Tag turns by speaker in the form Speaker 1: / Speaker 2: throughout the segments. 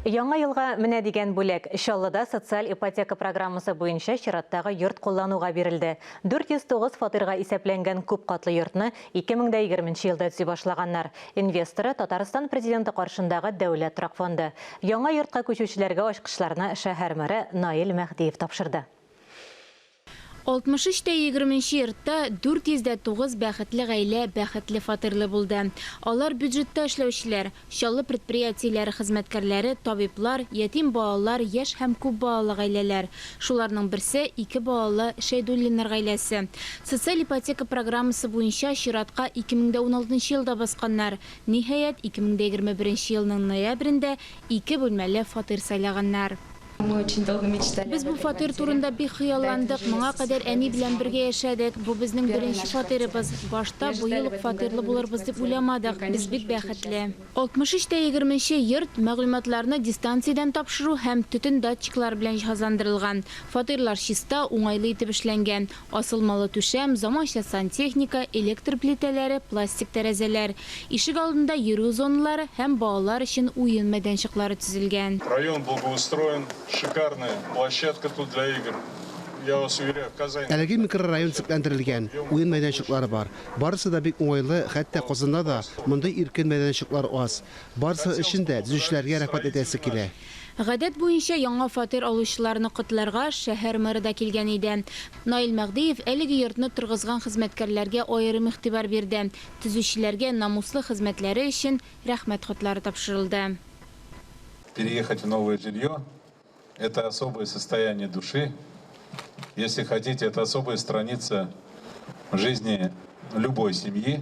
Speaker 1: Яңа елга менә дигән бүләк. Чаллыда социаль ипотека программасы буенча чираттагы йорт куллануга бирелде. 409 фатирга исәпләнгән күп катлы йортны 2020 нче елда төзи башлаганнар. Инвесторы, Татарстан Президенты каршындагы Дәүләт торак фонды. Яңа йортка күчүчеләргә ачкычларны шәһәр мэры Наил Мәһдиев тапшырды. 63
Speaker 2: тә егерменче йортта 409 бәхетле гаилә бәхетле фатирлы булды. Алар бюджетта эшләүчеләр, Чаллы предприятиеләре хезмәткәрләре, табиблар, ятим балалар, яшь һәм күп балалы гаиләләр. Шуларның берсе, ике балалы Шәйдуллиннар гаиләсе. Социаль ипотека программасы буенча чиратка 2016 елда басканнар. Ниһаять, 2021 елның ноябрендә ике бүлмәле фатир сайлаганнар. Без бу фатир турында бик хыялландык. Моңа кадәр әни белән бергә яшәдек. Бу безнең беренче фатирыбыз. Башта быел ук фатирлы булырбыз дип уйламадык. Без бик бәхетле. 63 тә егерменче йорт мәгълүматларны дистанциядән тапшыру һәм төтен датчиклары белән җиһазландырылган. Фатирлар чиста, уңайлы итеп эшләнгән. Асылмалы түшәм, заманча сантехника, электр плитәләре, пластик тәрәзәләр, ишек алдында йөрү зоналары һәм балалар өчен уен мәйданчыклары төзелгән. Район благоустроен,
Speaker 3: шикарная площадка тут для игр, я вас уверяю, Казань лучше. Әлеге микрорайон
Speaker 4: төзекләндерелгән, уен мәйданчыклары бар. Барысы да бик уңайлы, хәтта Казанда да мондый иркен мәйданчыклар аз. Барысы өчен дә төзүчеләргә рәхмәт әйтәсе килә. Гадәт буенча,
Speaker 2: яңа фатир алучыларны котларга шәһәр мэры да килгән иде. Наил Мәгъдиев әлеге йортны торгызган хезмәткәрләргә аерым игътибар бирде, төзүчеләргә намуслы хезмәтләре өчен Рәхмәт хатлары тапшырылды.
Speaker 5: Переехать в новое жилье, это особое состояние души, если хотите, это особая страница в жизни любой семьи.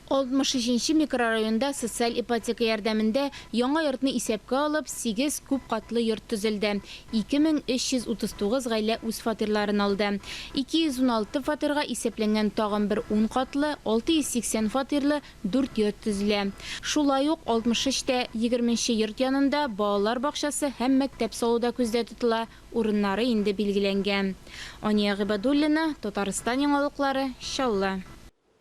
Speaker 4: 63
Speaker 2: нче микрорайонда социаль ипотека ярдәмендә яңа йортны исәпкә алып, сигез күп катлы йорт төзелде, 2339 гаилә үз фатирларын алды. 216 фатирга исәпләнгән тагын бер ун катлы, 680 фатирлы дүрт йорт төзелә. Шулай ук 63 тә егерме нче йорт янында балалар бакчасы һәм мәктәп салу да күздә тотыла, урыннары инде билгеләнгән. Ания Гыйбадуллина, Татарстан яңалыклары, Чаллы.